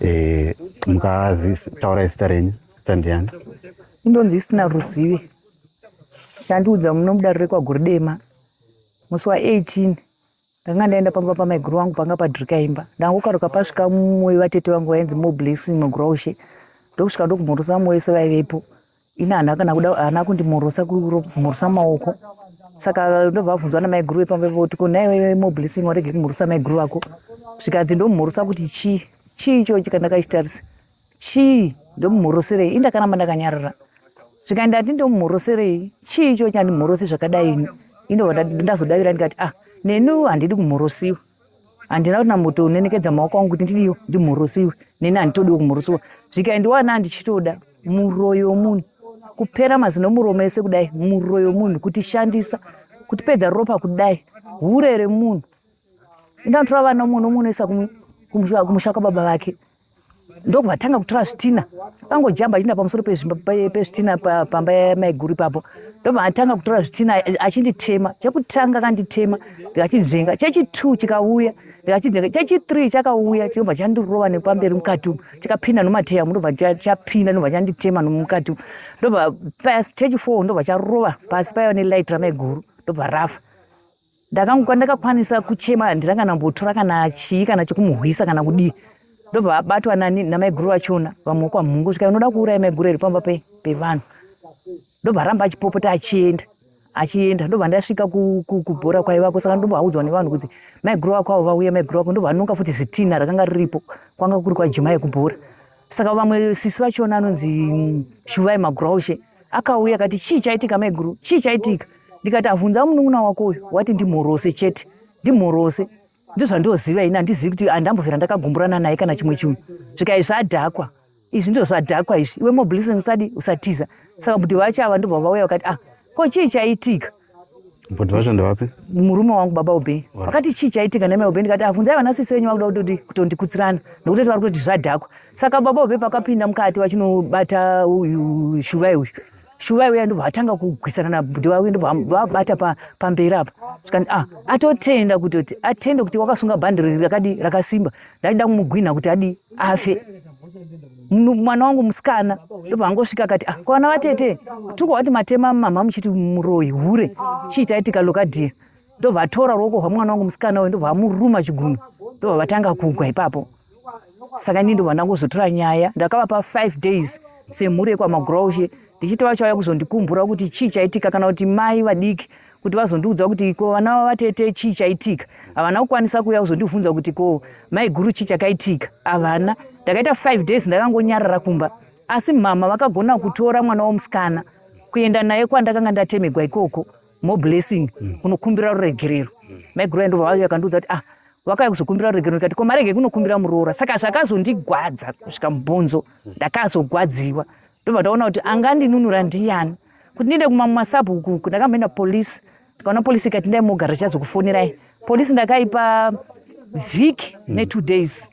Eh, mukataura zita renyu zita ndiani indonzi isina ruzive chandiudza muno mudare rekwaguri dema musi wa18 ndanga ndaenda pamba pamaiguru vangu panga padrika imba ndangokaruka pasvika mumwe vatete vangu vainzi moblessing muguraushe ndokusvika ndokumhorosa vamwe vese vaivepo ini hana kana kuda hana kundimorosa kumorosa maoko saka ndobva vabvunzwa namaiguru vepamba voti ko naiwe moblessing warege kumorosa maiguru vako zvikanzi ndomumorosa kuti chii chii ichochi kandakachitarisa chii ndomumoroserei indakaramba ndakanyarara zvikanzi ndati ndomumoroserei chii ichochi andimorose zvakadai ini indobva ndazodavira ndikati ah neni handidi kumorosiwa handina kuti nambotonenekedza maoko angu kuti ndidiyo ndimhurusiwe neni handitodiwo kumhurusiwa zvikaendiwa na ndichitoda muroyo womunhu kupera mazino muromo ese kudai muroyo womunhu kutishandisa kutipedza ropa kudai hure remunhu indanditora vana munhu omunoisa kumusha kwababa vake ndokuvatanga kutora zvitina vangojamba achiinda pamusoro pezvitina pamba yamaiguru ipapo ndovatanga kutora zvitina achinditema chekutanga kanditema ndikachinzvenga chechitu chikauya ndikachinzvenga chechithree chakauya chinobva chandirova nepamberi mukati umu chikapinda nomateya mu ndobva chapinda ndobva chanditema nomukati umu ndobva pasi chechifour ndobva charova pasi paiva nelight ramaiguru ndobva rafa Ndakangu kwandakakwanisa kuchema handina kana mbotora kana chii kana chokumuhwisa kana kudii ndobva abatwa nani namaiguru vachona vamwe kwamhungu svika unoda kuuraya maiguru iri pamba pevanhu ndobva aramba achipopota achienda achienda ndobva ndasvika kubhora kwaivako saka ndobva audzwa nevanhu kuti maiguru vako avo vauya maiguru vako ndobva anonga futi zitina rakanga riripo kwanga kuri kwajimai kubhora saka vamwe sisi vachona anonzi mm, shuvai maguraushe akauya akati chii chaitika maiguru chii chaitika ndikati avhunza munun'una wako uyu wati ndimhorose chete ndimhorose ndozvandoziva ini handizivi kuti andambovera ndakagumburana naye kana chimwe chunhu zvikai zvadhakwa izvi ndizvo zvadhakwa izvi iwe moblessing usadi usatiza saka mbuti vacho ava ndobva vauya vakati ah ko chii chaitika mbuti vacho ndevapi murume wangu baba ubhei vakati chii chaitika name ubhei ndikati avhunzai ah, vana sisi venyu vakuda kutoti kutondikutsirana nokuti vari kutoti zvadhakwa saka baba ubhei pakapinda mukati vachinobata uyu shuvai uyu Shuvai uya ndobva atanga kugwisana nabhuti vavo ndobva vabata pamberi apa zvikanzi ah atotenda kutoti atende kuti wakasunga bhandi rakadi rakasimba ndaida kumugwinha kuti adi afe mwana wangu musikana ndobva angosvika akati ah kwana vatete tuko wati matema mama muchiti muroyi hure chii taitika lokadiya ndobva atora ruoko rwemwana wangu musikana uyu ndobva amuruma chigunwe ndobva vatanga kugwa ipapo saka ini ndobva ndangozotora nyaya ndakavapa five days semhuri yekwamagroushe ndichiti vachauya kuzondikumbura kuti chii chaitika kana kuti mai vadiki kuti vazondiudza kuti ko vana vavatete chii chaitika havana kukwanisa kuuya kuzondibvunza kuti ko maiguru chii chakaitika havana ndakaita five days ndakangonyarara kumba asi mhama vakagona kutora mwana womusikana kuenda naye kwandakanga ndatemegwa ikoko more blessing mm. kunokumbira ruregerero mm. maiguru ayi ndobva vauya kandiudza kuti ah wakauya kuzokumbira ruregerero ndikati ko marege kunokumbira muroora saka zvakazondigwadza kusvika mubhonzo mm. ndakazogwadziwa ndobva ndaona kuti angandinunura ndiyani kuti ndiende kumamwe masabhuku uku ndakamboenda polisi ndikaona polisi ikati ndai mogara chichazokufonirai polisi ndakaipa vhiki mm. netwo days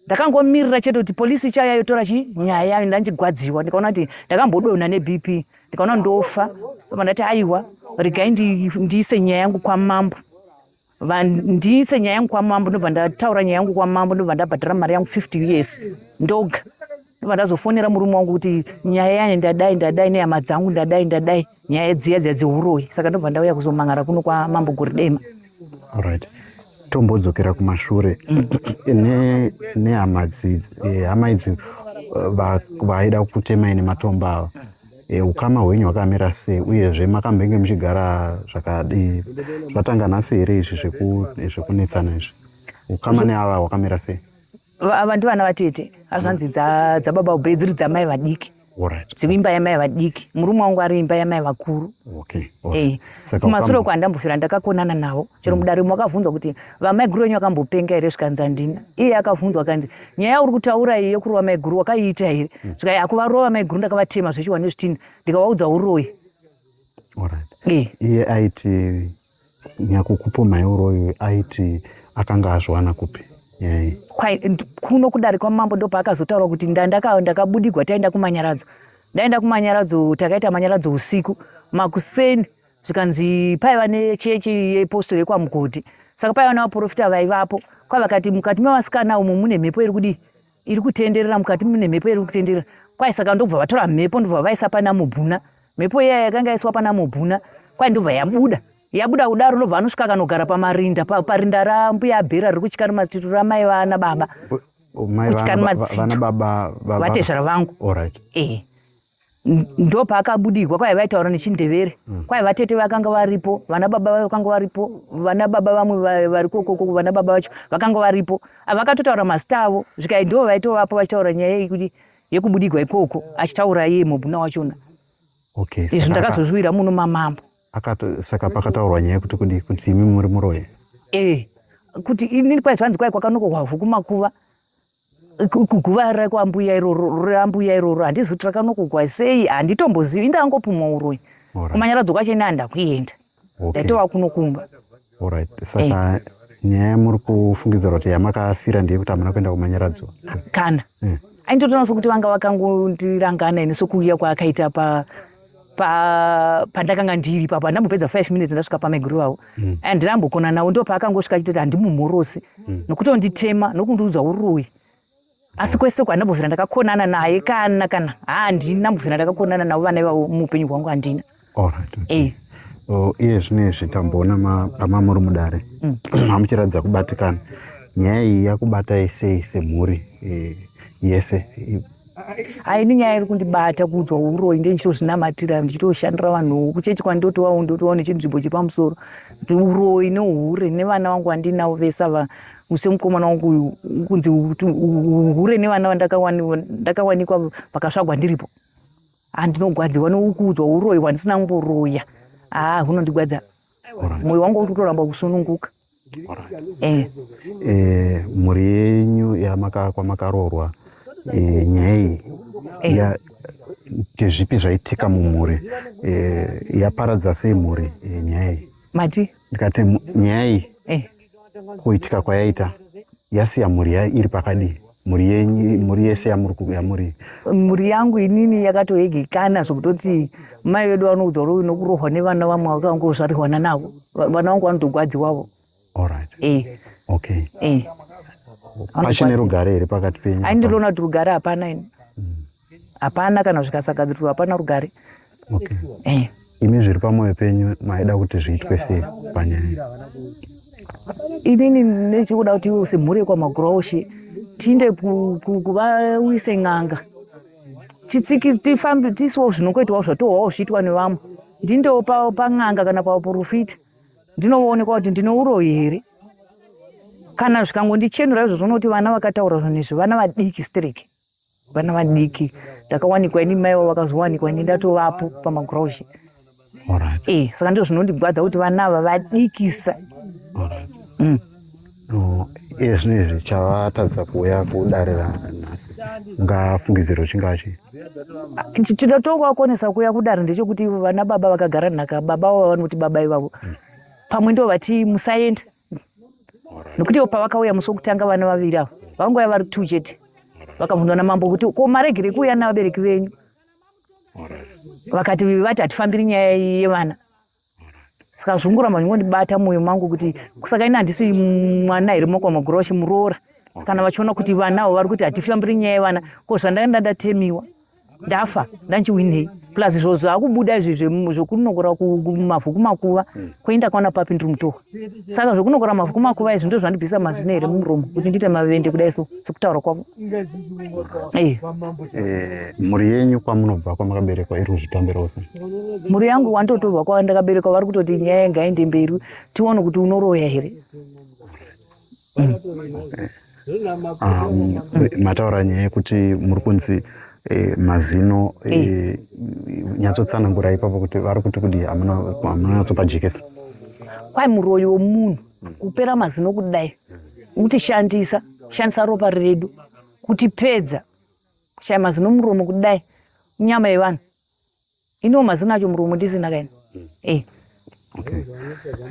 Ndakangomirira chete kuti police ichauya yotora chi nyaya yayo ndandigwadziwa ndikaona kuti ndakambodonha neBP ndikaona ndofa ndobva ndati aiwa regai ndiise nyaya yangu kwamambo ndiise nyaya yangu kwamambo ndobva ndataura nyaya yangu kwamambo ndobva ndabhadhara mari yangu 50 years ndoga Ndobva ndazofonera murume wangu kuti nyaya yayo ndadai ndadai nehama dzangu ndadai ndadai nyaya dziya dziya dzehuroyi saka ndobva ndauya kuzomhan'ara kuno kwamambo goridema Alright. Tombodzokera kumashure ne nehama dzi eh, hama idzi eh, va- vaida kutema ine matomba ava. Eh, Ukama hwenyu hwakamira sei uyezve makambenge muchigara zvakadii zvatanga nhasi here izvi zveku- zvekunetsana izvi ukama neava hwakamira sei ava ndivana vatete azvanzi dzababa dza ube dziri dzamai vadiki dziri imba yamai vadiki murume wangu ari imba yamai vakuru eh, kumasure uko handambofira ndakakonana navo chero mm. mudare mwe akavhunzwa kuti vamaiguru venyu vakambopenga here zvikanzi handina iye akavhunzwa akanzi nyaya yauri kutaura iyi yokurova maiguru wakaiita here mm. zvikai akuvarova maiguru ndakavatema zvechiwane zvitinha ndikavaudza uroyi iye aiti nyakukupomhai uroyi aiti akanga azviwana kupi yai kuno kudarikwa mambo ndopaakazotaura kuti ndandakabudigwa taenda kumanyaradzo ndaenda kumanyaradzo takaita manyaradzo usiku makuseni zvikanzi paiva nechechi yeposto yekwamugodhi saka paiva nevaprofita vaivapo kwavakati mukati mevasikana umo mune mhepo iri kudii iri kutenderera mukati mune mhepo iri kutenderera kwai saka ndobva vatora mhepo ndobva vaisa pana mubhuna mhepo iya yakanga yaiswa pana mubhuna kwai ndobva yabuda yabuda kudaro ndobva anosvika akanogara pamarinda parinda rambuya abhera riri kuchikarimatsitu ramai vana baba kuchikarimatsitu vatezvara vangu ehe ndo paakabudirwa kwai vaitaura nechindevere mm. kwai vatete vakanga varipo vana baba vakanga varipo vana baba vamwe vari kokoko vana baba vacho vakanga varipo vakatotaura mazita avo zvikai ndo vaitovapo vachitaura nyaya yekuti yekubudigwa ikoko achitaura iye mobuna wachona okay, izvi ndakazozviwira muno mamambo saka pakataurwa nyaya yekuti kudi kuti imi muri muroyi e kuti ini kwai zvanzi kwai kwakanokohwa vhu kumakuva kuguvara kwambuya iroro rambuya iroro handizi kuti rakanokugwa sei handitombozivi ndangopumwa uroyi kumanyaradzo kwacho ini handakuenda ndaitova kuno kumba orit saka eh. nyaya yamuri kufungidzira kuti yamakafira ndeye kuti hamuna kuenda kumanyaradzo kana eh. aindotoona sokuti vanga vakangondirangana ini sokuuya kwaakaita pa pa pandakanga ndiri ipapo andambopedza five minutes ndasvika pamaiguru vavo mm. and ndambokona navo ndo paakangosvika achitoti handimumhorosi mm. nokuti onditema nokundiudza uroyi asi kwese uko handambovhira ndakakonana naye kana kana handina ndambovhira ndakakonana navo vana ivavo muupenyu hwangu handina eh. iye zvine izvi tamboona pamamuri mudare mm. hamuchiratidza kubatikana nyaya iyi yakubatai sei semhuri eh, yese Aini nyaya iri kundibata kuudzwa uroyi ndichitozvinamatira ndichitoshandira vanhu kuchechi kwandotovawo ndotovawo nechinzvimbo chepamusoro uroyi neuhure nevana vangu vandinavo vese ava semukomana wangu uyu kunzi uhure nevana vandakawanikwa vakasvagwa ndiripo handinogwadzirwa neukuudzwa uroyi hwandisina kumboroya haa hunondigwadza moyo wangu uri kutoramba kusununguka mhuri yenyu kwamakaroorwa nyaya iyi ndezvipi zvaitika mumhuri yaparadza sei mhuri nyaya iyi mati ndikati nyaya iyi kuitika kwayaita yasiya mhuri yayo iri pakadii mhuri yenyu mhuri yese yamuri ku- yamuri mhuri yangu inini yakatoegekana zvokutoti mai vedu vanokutaura uyu nokurohwa nevana vamwe vakangozvarirwana navo Va- vana vangu vanotogwadziwavo all right eh, okay eh. pachine rugare here pakati penyu aindinoona kuti rugare hapana ini hapana kana zvikasagadziriswa hapana rugare okay. eh. imi zviri pamwoyo penyu maida kuti zviitwe sei panyaya inini nechikuda kuti iwe semhuri yekwamaguroshi tiinde kuvawise n'anga tifambe tisiwo zvinongoitwawo zvatohwawo zviitwa nevamwe ndindewo pan'anga kana pauporofita ndinoonekwa kuti ndine uroyi here kana zvikangondichenura izvo zvonoti vana vakataura zvinhu izvi vana vadiki strike vana vadiki ndakawanikwa ini mai vavo vakazowanikwa ini ndatovapo pamagroushe right. e, saka ndizvo zvinondigwadza kuti vana ava vadikisa right. mm. no, iye zvino izvi chavatadza kuuya kudare ranhasi ungafungidziro chingava chii chinotonga wakwanisa kuuya kudare ndechekuti vana baba vakagara nhaka baba vavo vanoti baba ivavo mm. pamwe ndo vati musaenda nokuti ivo pavakauya musi wokutanga vana vaviri avo vakangouya vari two chete vakabvunzwa namambo kuti ko maregerei kuuya navabereki venyu vakati vati hatifambiri nyaya yevana saka zvongoramba zvingondibata mwoyo mangu kuti kusaka ini handisi mwana here moko magura vachimuroora kana vachiona kuti vana avo vari kuti hatifambiri nyaya yevana ko zvandaenda ndatemiwa ndafa ndanchiwinei plus zvo zvakubuda izvi zvekunokora mavhu kumakuva hmm. koenda kwaona papi ndiri mutohwa saka zvekunokora mavhu kumakuva izvi ndo zvandibvisa mazino here mumuromo kuti ndiite mavende kudai so sekutaura kwavo eh. eh, mhuri yenyu kwamunobva kwamakaberekwa iri kuzvitambirawo se mhuri yangu wandotorwa kwandakaberekwa vari kutoti nyaya ngaende mberi tione kuti unoroya here mataura nyaya yekuti muri kunzi eh, mazino eh, eh. nyatsotsanangura ipapo kuti vari kuti kudi hamunanatsopa jekesa kwai muroyi womunhu kupera mazino kudai mutishandisa shandisa ropa redu kutipedza kushaya mazino muromo kudai nyama yevanhu Iniwo mazino acho muromo ndisina kaini. Eh. Okay.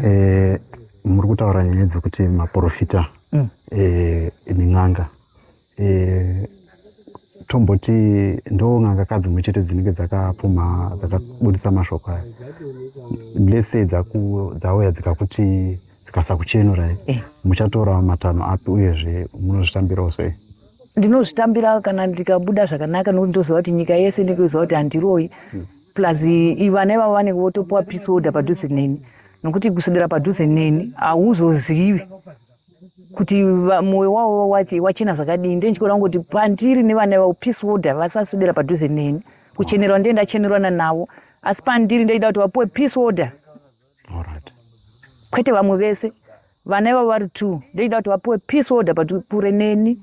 Eh, muri kutaura nyaya dzekuti maprofita mm. eh, min'anga eh, tomboti ndo n'anga ka dzimwe chete dzinenge dzakapfuma dzakabudisa mashoko aya lese dzauya dzikakuti tikasakuchenurai eh. muchatorawo matanho api uyezve munozvitambirawo sei ndinozvitambira kana ndikabuda zvakanaka nokuti ndoziva kuti nyika yese ndikuziva kuti handiroyi hmm. plus ivana ivavo vanenge votopiwa peace order padhuze neni nokuti kuswedera padhuze neni hauzozivi kuti mwoyo wavo wachena zvakadini ndee ndichikora kungoti pandiri nevana ivavo peace order vasaswedera padhuze neni kuchenerwa ndee ndachenerwana navo asi pandiri ndaida kuti vapiwe peace order Alright. Kwete vamwe vese. Vana ivavo vari two. Ndochida kuti vapuwe peace order but kure neni.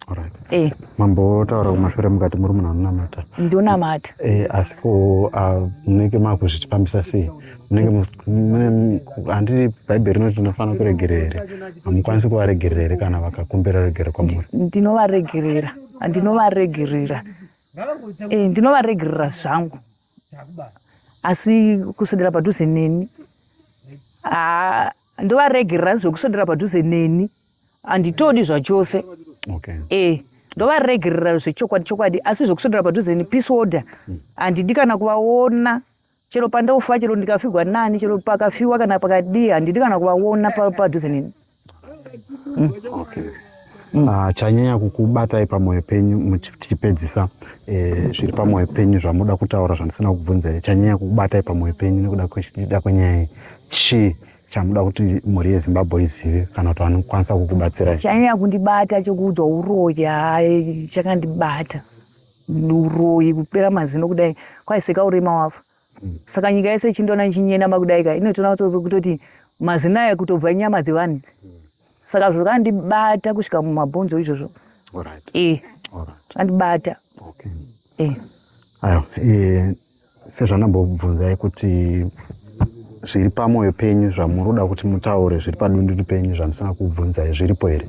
Alright. Eh. Mambo taura kumashure mukati muri munhu anonamata. Ndonamata. Eh asi ko uh, munenge makuzvitipambisa sei? Munenge handi Bible rinoti tinofanira kuregerera here? Hamukwanisi kuvaregerera here kana vakakumbira regero kwamuri? Ndinovaregerera. Ndinovaregerera. Eh ndinovaregerera zvangu. asi kuswedera padhuze neni ah, ndovaregerera zvekuswedera padhuze neni handitodi zvachose okay. eh ndovaregerera zvechokwadi chokwadi asi zvekuswedera padhuze ni peace order hmm. handidi kana kuvaona chero pandofa chero ndikafigwa nani chero pakafiwa kana pakadii handidi kana kuvaona padhuze nini Mm, okay. Mm. Ah, chanyanya kukubatai pamoyo penyu tichipedzisa eh, zviri eh, pamoyo penyu zvamuda kutaura zvandisina kubvunza chanyanya kukubatai pamoyo penyu nekuda kwechida kwenyaya iyi chii chamuda kuti mhuri yezimbabwe izive kana kuti vanokwanisa kukubatsirai chanyanya kundibata chokuudzwa uroyi hayi chakandibata uroyi kupera mazino kudai kwaiseka urema wafa Saka nyika yese ichindiona ichinyenama kudai ka inotoona kutoti mazino aya kutobva inyama dzevanhu. Saka zvakandibata kusvika mumabhonzo izvozvo. Alright. Eh. Alright. Andibata. Okay. Eh. Ayo, eh sezvandambobvunzai kuti zviri pamwoyo penyu zvamuri kuda kuti mutaure zviri padundundu penyu zvandisina kubvunzai zviripo here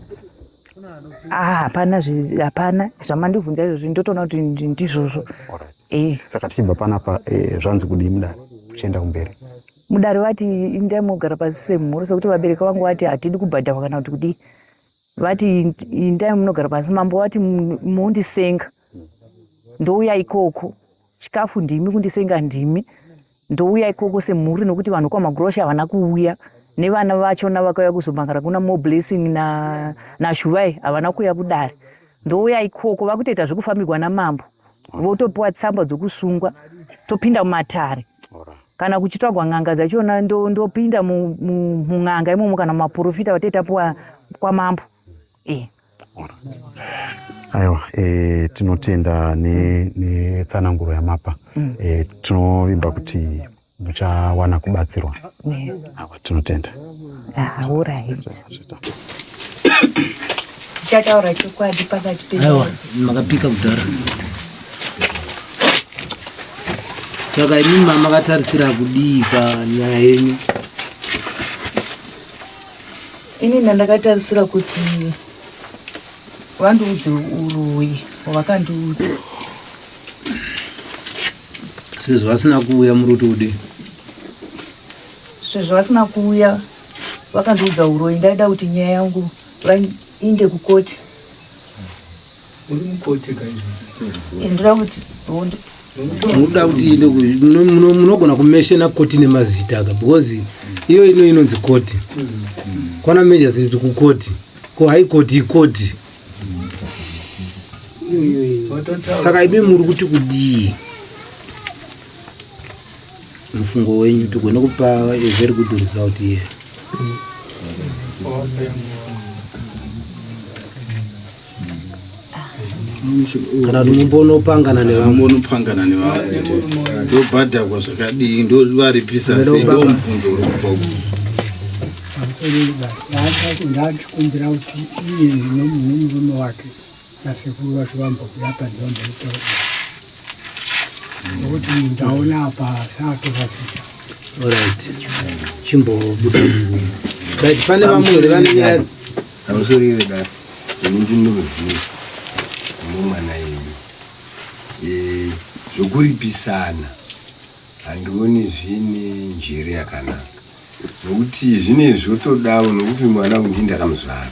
Ah, hapana hapana zvamandibvunza izvozvi ndotoona kuti ndizvozvo eh. saka tichibva panapa eh, zvanzi kudii mudare tichienda kumberi mudare vati indai mogara pasi semhuri sekuti vabereki vangu vati hatidi kubhadharwa kana kuti kudii vati indai munogara pasi mambo vati mundisenga ndouya ikoko Chikafu ndimi, kundisenga ndimi. Ndouya ikoko semhuri nokuti vanhu kwaMagurosha havana kuuya nevana vachona vakauya kuzomhan'ara kuna More Blessing na, naShuvai havana kuuya kudare. Ndouya ikoko vakutoita zvekufambigwa namambo votopiwa tsamba dzokusungwa topinda mumatare kana kuchitsvagwa n'anga dzachona ndopinda ndo mun'anga imomo kana maporofita vatete apiwa kwamambo iyi. Aiwa e, tinotenda netsananguro ne yamapa mm. e, tinovimba kuti muchawana kubatsirwa yes. Awa tinotenda chataura chokwadi pakati peaiwa makapika kudhara saka imimi mamakatarisirakudii panyaya yenyu Ini ndandakatarisira kuti vandiudze uroyi hwakandiudza. Sezvo vasina kuuya muri kuti udii? Sezvo vasina kuuya vakandiudza uroyi ndaida kuti nyaya yangu vainde kukoti. Uri mukoti kaizvo? Ndira kuti munoda kuti inde ku- muno- muno- munogona kumeshena koti nemazita ka because iyo ino inonzi koti kwana majors iti kukoti ko high court ikoti saka imi muri kuti kudii mufungo wenyu tigone kupa a very good result here kana kuti mumbonopangana nevamonopangana nevamwe ndobhadhakwa zvakadii ndovaripisa sei ndo mubvunzo uri kubva ku ndakumbira kuti iye nemurume wake nasekuru vacho vambokuda padhombeitoo nokuti ndaona apa saatokasika orit chimbobuda but pane vamwe here vanonyaya Hausweriwe da ini ndinoziva nomwana yedu e, zvokuripisana handioni zvine njere yakanaka nokuti zvine zvotodawo nokuti mwana undi ndakamuzvara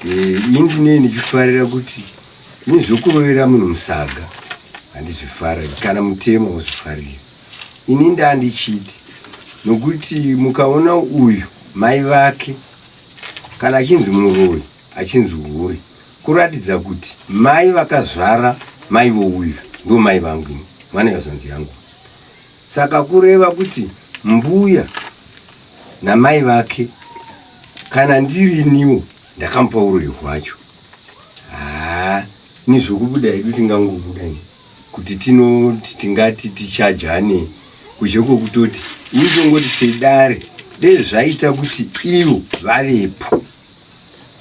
e, ini ndinee ndichifarira kuti ini zvokurovera munhu musaga handizvifariri kana mutemo wozvifarira ini ndandichiti nokuti mukaona uyu mai vake Kana achinzi muroyi achinzi hure kuratidza kuti mai vakazvara mai vouyu ndo mai vangu ini mwana yazvanzi yangu saka kureva kuti mbuya namai vake kana ndiriniwo ndakamupa uroyi hwacho haa ni zvokubuda hedu tingangobuda ni kuti tinoti tingati tichajane kuzhe kwokutoti ini tongoti sedare Dei zvaita kuti ivo vavepo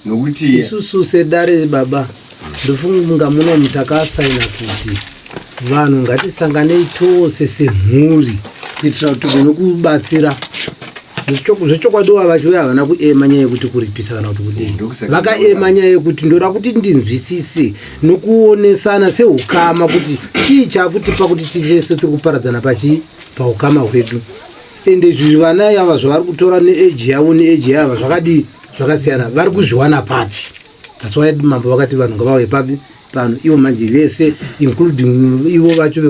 nokuti isusu sedare baba ndofunga muno mutakasaina kuti vanhu ngatisanganei tose semhuri kuitira kuti vanokubatsira zvechokwadi wa vacho uya havana kuema nyaya yekuti kuripisa kana kuti kudii vakaema nyaya yekuti ndoda kuti ndinzwisise nokuonesana seukama kuti chii chakutipa kuti tichese tiri kuparadzana pachii paukama hwedu ende izvi vana yava zvavari kutora neeji yavo neeji yava zvakadii zvakasiyana vari kuzviwana papi that's why mambo vakati vanhu ngavauye papi pano ivo manje vese including ivo vacho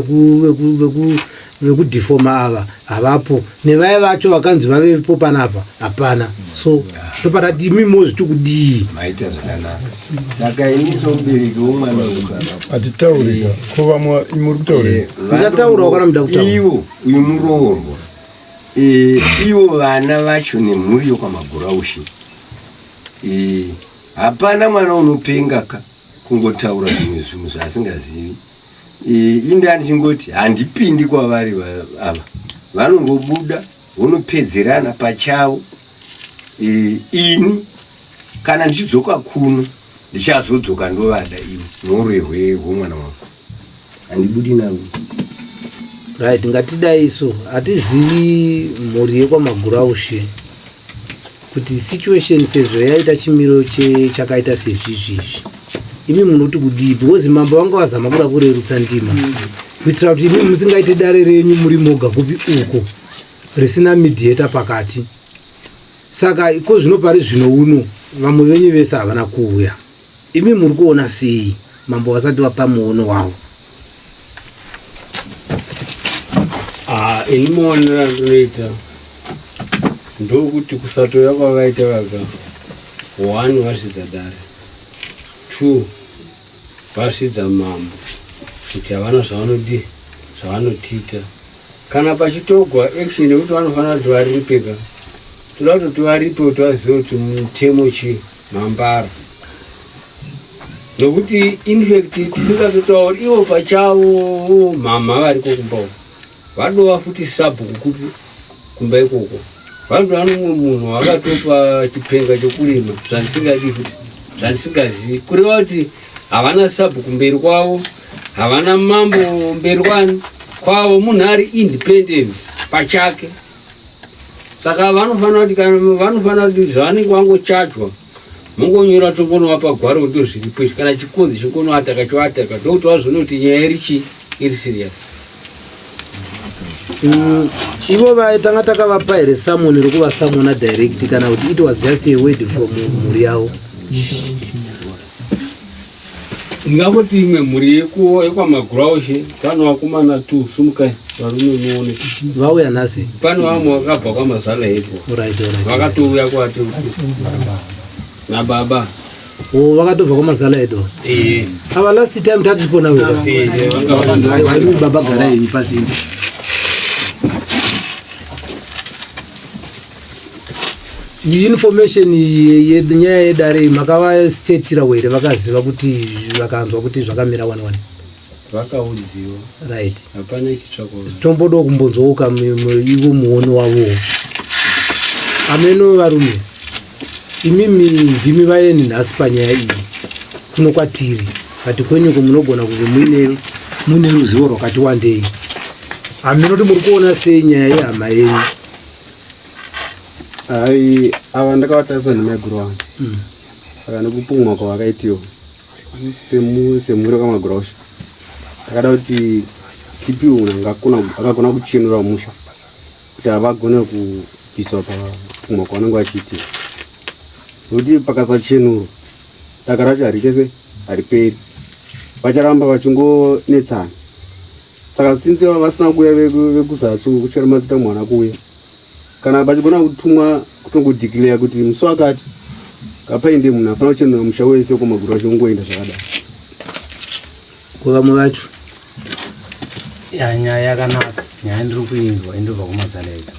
vekudefoma ava havapo nevaya vacho vakanzi vavepo panapa hapana so toparati imi mozviti kudii maita zvakanaka saka ini somubereki womwana hatitaurika ko vamwe muri kutaurika ndichataura wakana muda kutaura Uyu muroorwa. Eh, ivo vana vacho nemhuri yokwamaguraushe eh, hapana mwana unopenga ka kungotaura zvimwe zvinhu zvaasingazivi eh, inde andichingoti handipindi kwavari ava vanongobuda vonopedzerana pachavo eh, ini kana ndichidzoka kuno ndichazodzoka ndovada ivo norwehwe hwomwana wangu handibudi navo right ngatidai isu hatizivi mhuri yekwamaguraushe kuti situation sezvo yaita chimiro chakaita sezvizvizvi imi munoti kudii because mambo vanga vazama kuda kurerutsa ndima mm. kuitira kuti imi musingaite dare renyu muri moga kupi uko risina midhieta pakati saka iko zvino pari zvino uno vamwe venyu vese havana kuuya Imi muri kuona sei? Mambo vasati vapa muono wavo. Ah, ini maonero andinoita ndokuti kusatoya kwavaita vaga one vasvidza dare two vasvidza mambo kuti havana zvavanodii zvavanotiita kana pachitogwa action yekuti vanofanira kuti varipeka toda kuti tivaripe kuti vazive kuti mutemo chii mambara nokuti infact tisingatotauri ivo pachavo mhamha variko kumba uko vadova futi sabhuku kupi kumba ikoko vanotova nomumwe munhu wakatopa chipenga chokurima zvandisingadi futi zvandisingazivi kureva kuti havana sabhuku mberi kwavo havana mambo mberi kwani kwavo munhu ari independence pachake saka vanofanira kuti kana vanofanira kuti zvavanenge vangochajwa mongonyora tongonovapa gwaro kuti ndozviripo izvi kana chikonzi chingonoataka choataka ndokuti vazoona kuti nyaya iri chii iri serious mm, ivo vaye tanga takavapa here samoni rokuvasamona direct kana kuti it was just a word from mhuri yavo Ndingangoti imwe mhuri yekuwo yekwaMaguraushe pano vakomana tu sumukai varume muone vauya nhasi pano vamwe vakabva kwamazana ipo Alright, alright. vakatouya kwati nababa Oh, vakatobva kwamazala edu Eh, ava last time tatipo nawe eh, eh, vanga vakandouya. Hayi, baba gara henyu pasimbi information yenyaya yedare iyi makavastatira were vakaziva kuti vakanzwa kuti zvakamira wani wani vakaudziwa right hapana chitsvako tombodawo kumbonzwooka ivo muoni wavo ameno varume imimi ndimi vaeni nhasi panyaya iyi kuno kwatiri kati kwenyuko munogona kunge muine muine ruzivo rwakati wandei haminoti muri kuona sei nyaya yehama yenyu Hai, ava ndakavatarisa nemaiguru avo hmm. saka nekupumwa kwavakaitiwo semhuri kwamagurosha takada kuti tipi unhu akagona kuchenura musha kuti havagone kubviswa papumwa kwavanenge vachiitia nokuti pakasachenurwa daka racho harikese hariperi vacharamba vachingonetsana saka since vava vasina kuuya vekuzasi kuchera mazita mwana kuuya kana pachigona kutumwa kutongodeclare kuti musi wakati kapainde munhu afana kuchena musha wese kumaguru acho kungoenda zvakadai kuvamwe vacho ya nyaya yakanaka nyaya ndiri kuinzwa indobva kumazala edu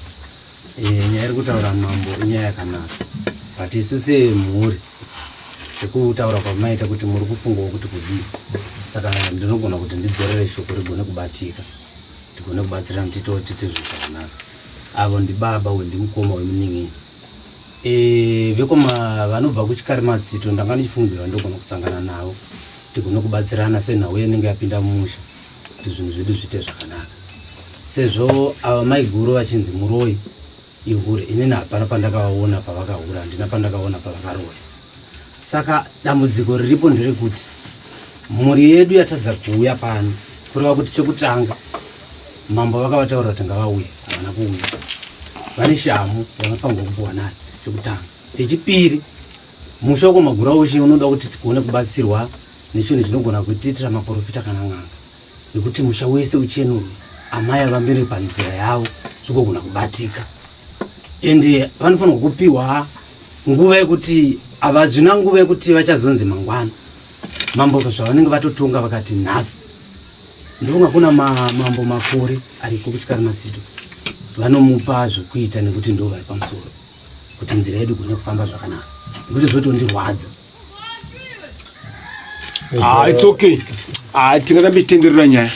eh, nyaya iri kutaura mambo inyaya yakanaka but isu semhuri Sekutaura kwamaita kuti muri kufungawo kuti kudii, saka ndinogona kuti ndidzorere shoko rigone kubatika, tigone kubatsirana kuti tiitewo tiite zvinhu zvakanaka. Avo ndibaba uyu ndimukoma wemunin'ini e, vekoma vanobva kuChikarimatsito. Ndanga ndichifungidzira ndogona kusangana navo tigone kubatsirana senhau yenenge yapinda mumusha kuti zvinhu zvedu zviite zvakanaka, sezvo ava maiguru vachinzi muroi ihure, inini hapana pandakavaona pavakahura, handina pandakaona pavakaroya. Saka dambudziko riripo nderekuti mhuri yedu yatadza kuuya pano kureva kuti chekutanga mambo vakavataurira kuti ngavauye havana kuuya vane shamu yavanofanirwa kupiwa nayo chekutanga chechipiri musha wekwamagura ushe unoda kuti tigone kubatsirwa nechinhu chinogona kutiitira maporofita kana n'anga nekuti musha wese uchenurwe amai avambire panzira yavo zvikogona kubatika ende vanofanirwa kupiwa nguva yekuti havazvina nguva yekuti vachazonzi mangwana mambo zvavanenge vatotonga vakati nhasi ndofunga kuna mambo makore ariko kuchikara matsito vanomupa zvekuita nekuti ndo vari pamusoro kuti nzira yedu kune kufamba zvakanaka nekuti zvotondirwadza ah, its okay ah, tingatambe titenderera nyaya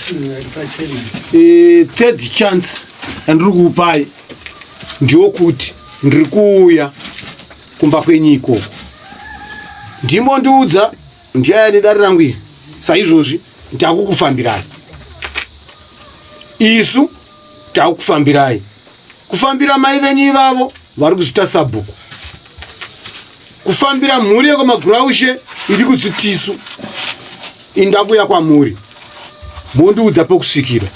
eh, third chance yandiri kuupai ndokuti ndiri kuuya kumba kwenyu ikoko ndimo ndiudza ndiyaya nedare rangu iri saizvozvi ndakukufambirai isu takufambirai kufambira mai venyu ivavo vari kuzvita sabhuku kufambira mhuri yekwamaguraushe iri kuzvitisu indakuya kwamuri mondiudza pokusvikira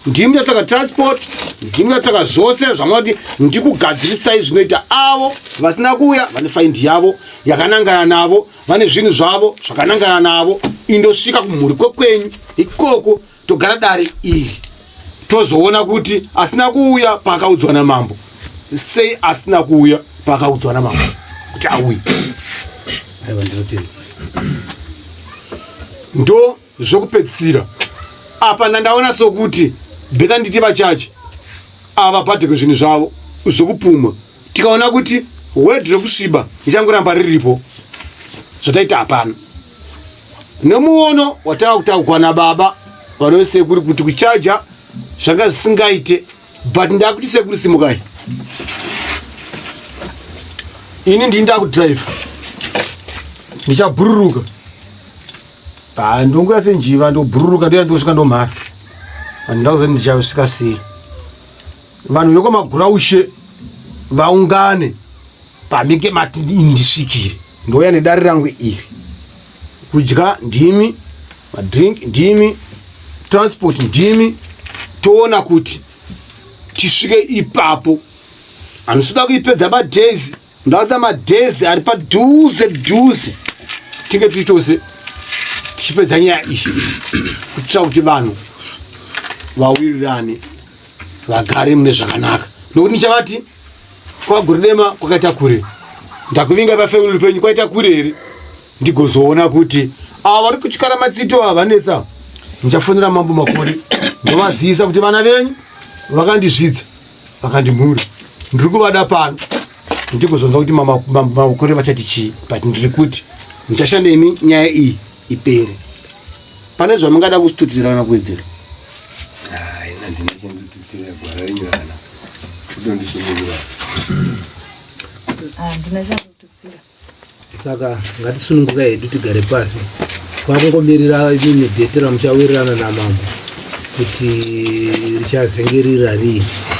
ndimi ndatsvaka transport ndimi ndatsvaka zvose zvamunoti ndikugadzirisai zvinoita avo vasina kuuya vane faindi yavo yakanangana navo vane zvinhu zvavo zvakanangana navo indosvika kumhuri kwekwenyu ikoko togara dare iri tozoona kuti asina kuuya paakaudzwa namambo sei asina kuuya paakaudzwa namama kuti auye ndo zvokupedzisira apa ndandaona sokuti beta nditi vachachi ava padhekwe zvinhu zvavo zvokupumwa tikaona kuti word rekusviba ichangoramba riripo zvataita hapana nemuono watava kutaugwa nababa vanove sekuri kuti kuchaja zvanga zvisingaite but ndakuti sekuru simukai ini ndini ndakudrive ndichabhururuka ndonguya senjiva ndobhururuka ndoya ndosvika ndomhara andindakuza ndichavsvika sei vanhu vekwamaguraushe vaungane panenge mati ndisvikire ndouya nedare rangu iri kudya ndimi madrink ndimi transport ndimi toona kuti tisvike ipapo handisida kuipedza madays ndakuda madays ari padhuze dhuze tinge tiri tose tichipedza nyaya iyi kuitira kuti vanhu vawirirane vagare mune zvakanaka nokuti ndichavati kwaGurudema kwakaita kure ndakuvinga pafamily penyu kwaita kure here ndigozoona kuti ava vari kutyara matsito ava vanetsa ndichafonera mambo makore ndovazivisa kuti vana venyu vakandisvidza vakandimhura ndiri kuvada pano ndigozonza kuti makore vachati chii but ndiri kuti ndichashanda imi nyaya iyi ipere pane zvamungada kustutirana kuwedzera ah, saka ngatisununguka hedu tigare pasi kwakungomirira imwe dhete ramuchawirirana namambo kuti richazenge rirarii